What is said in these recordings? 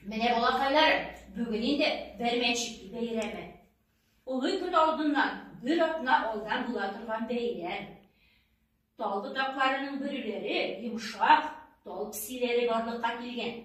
Менә балакайларым, бүген инде бәрмәнчек бәйрәме. Олы көн алдыннан бер атна алдан була торган бәйрәм. Тал ботакларының бөреләре йомшак, тал псиләре барлыкка килгән.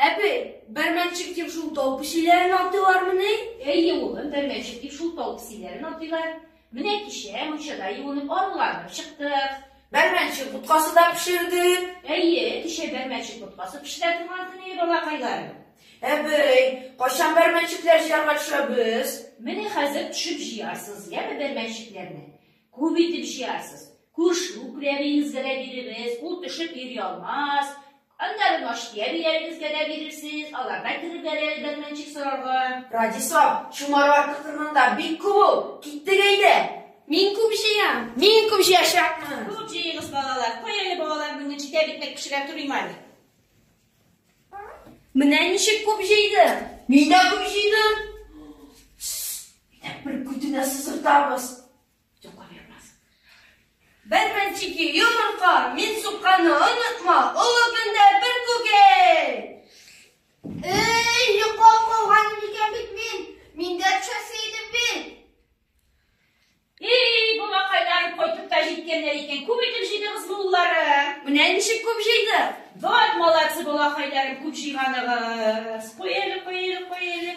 Әби, бәрмәнчек дип шул тал псиләрен атыйлармыни? Әйе, улым, бәрмәнчек дип шул тал псиләрен атыйлар. Менә кичә мунчада юынып аруланып чыктык. Бәрмәнче боткасы да пешердек. Әйе, кичә бәрмәнче боткасы пешерә торган көне, балакайларым. Әбей, кайчан бәрмәнчекләр җыярга төшәбез? Менә хәзер төшеп җыярсыз, яме бәрмәнчекләрне. Күп итеп җыярсыз. Күрше күрәбиегезгә дә бирегез, ул төшеп йөри алмас. Аннары Наштия биялегезгә дә бирерсез, алар да кереп бәрер Бәрмәнчек сорарга. Радисо, чумар артык торганда бик күп ул, киттек әйдә! Мин күп җыям! Мин күп җыячакмын! Күп җыегыз, балалар! Кай әле балалар бүген җитә бит, мәк пешерә торыйм әле. Менә ничек күп җыйдым! Мин дә күп җыйдым! Тс, әйдә, бер күтенә сызгыртабыз! Йока бирмәс. Бер мәнчеки йомырка, мин сукканны онытма, олы көндә бер күгей! Эй, йока калган икән бит мин, мин дә төшәсе идем бит. Эй, бу макайлар кайтып та җиткәннәр икән, күп итеп җыйдыгыз муллары. Менә ничек күп җыйды. Вот молодцы, балакайларым, күп җыйганыгыз. Куй әле, куй әле, куй әле.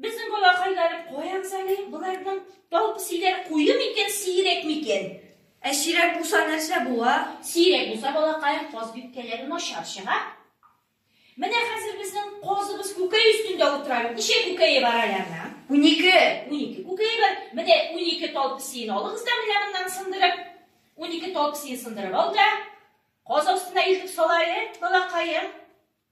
Безнең балакайлары каямыз әле, боларның тал песиләр куе микән, сирәк микән? Ә сирәк булса нәрсә була? Сирәк булса балакаем каз бипкәләре начар чыга. Менә хәзер безнең казыбыз күкәй өстендә утыра. Ничә күкәе бар аларның? Унике. Унике күкәе бар. Менә унике тал песиен алыгыз да менә моннан сындырып. Унике тал песиен сындырып ал да. Каз астына илтеп сала әле, балакаем.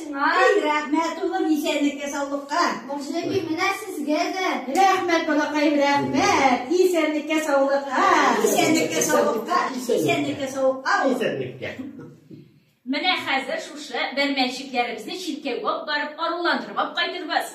Ай, рәхмәт улым исәнлеккә саулыкка. Башлыки менә сезгә дә. Рәхмәт балакаем, рәхмәт. Исәнлеккә саулыкка. Исәнлеккә саулыкка. Исәнлеккә саулыкка. Исәнлеккә. Менә хәзер шушы бәрмәнчекләребезне чиркәүгә алып барып аруландырып алып кайтырбыз.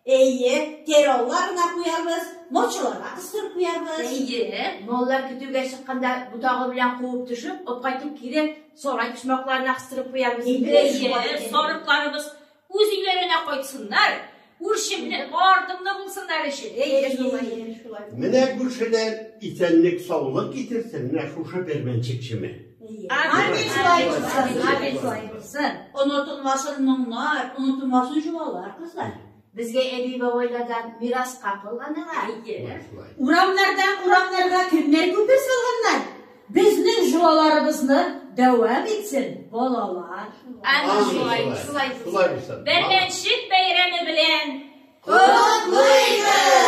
Әйе, тераллар гына куярбыз, мочыларга кыстырып куярбыз. Әйе, маллар көтүгә чыкканда ботагы белән куып төшеп, алып кайтып кире сарай почмакларына кыстырып куярбыз. Әйе, сарыкларыбыз үз өйләренә кайтсыннар, үрчемле, артымлы булсыннар өчен. Әйе, шулай. Менә күршедән исәнлек-саулык китерсен, менә шушы бермәнчек чеме. Амин шулай булсын, амин шулай булсын. Онытылмасын моңнар, онытылмасын җолалар, кызлар. Безгә әби бабайлардан мираска калганга әйе. Урамнардан урамнарга кемнәр күпер салганнар? Безнең җолаларыбызны дәвам итсен, балалар. Амин шулай, шулай булсын. Бәрмәнчек бәйрәме белән котлыйбыз!